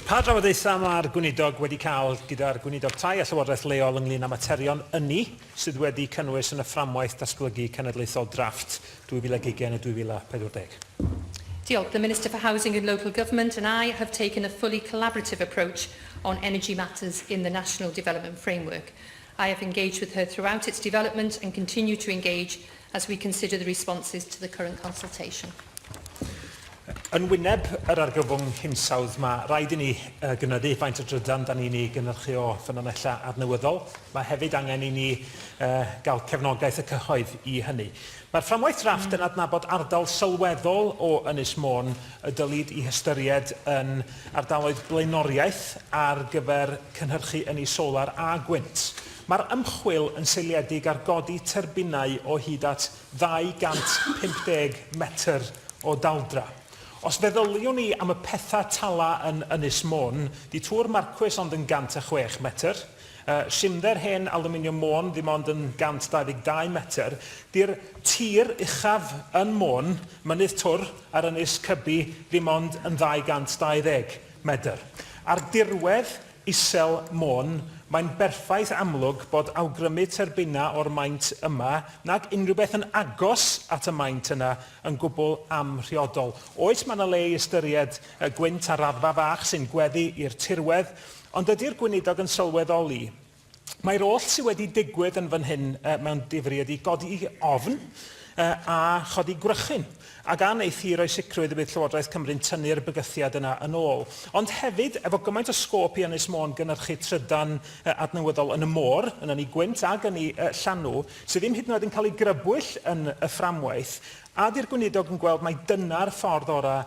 Pa drafodaethau mae'r Gweinidog wedi cael gyda'r Gweinidog Tai a Llywodraeth Leol ynglŷn â materion ynni sydd wedi'u cynnwys yn y Fframwaith Datblygu Cenedlaethol Drafft 2020 a 2040? Diolch. The Minister for Housing and Local Government and I have taken a fully collaborative approach on energy matters in the National Development Framework. I have engaged with her throughout its development and continue to engage as we consider the responses to the current consultation. Yn wyneb yr argyfwng hinsawdd, mae rhaid i ni uh, gynyddu faint o drydan da ni'n ei gynhyrchu o ffynonellau adnewyddol. Mae hefyd angen i ni uh, gael cefnogaeth y cyhoedd i hynny. Mae'r fframwaith drafft yn adnabod ardal sylweddol o Ynys Môn y dylid i hystyried yn ardaloedd blaenoriaeth ar gyfer cynhyrchu ynni solar a gwynt. Mae'r ymchwil yn seiliedig ar godi tyrbinau o hyd at 250 metr o daldra. Os feddyliwn ni am y petha tala yn Ynys Môn, di tŵr Marcwys ond yn 106 metr. Cimder hen Alwminiwm Môn ddim ond yn 122 metr. Di'r tir uchaf yn Môn, Mynydd Twr ar Ynys Cybi ddim ond yn 220 medr. Ar dirwedd isel Môn, mae'n berffaith amlwg bod awgrymu terbynau o'r maint yma, nag unrhyw beth yn agos at y maint yna, yn gwbl amhriodol. Oes, mae yna le i ystyried gwynt ar raddfa fach sy'n gweddu i'r tirwedd, Ond ydy'r Gweinidog yn sylweddoli mai'r oll sydd wedi digwydd yn fan hyn mewn difri ydy godi ofn a chodi gwrychyn, ac a wneith hi roi sicrwydd y bydd Llywodraeth Cymru'n tynnu'r bygythiad yna yn ôl? Ond hefyd, efo gymaint o sgôp i Ynys Môn gynyrchu trydan adnewyddol yn y môr, yn Ynni Gwynt ac Ynni Llanw, sydd ddim hyd yn oed yn cael ei grybwyll yn y fframwaith, a ydy'r Gweinidog yn gweld mai dyna'r ffordd orau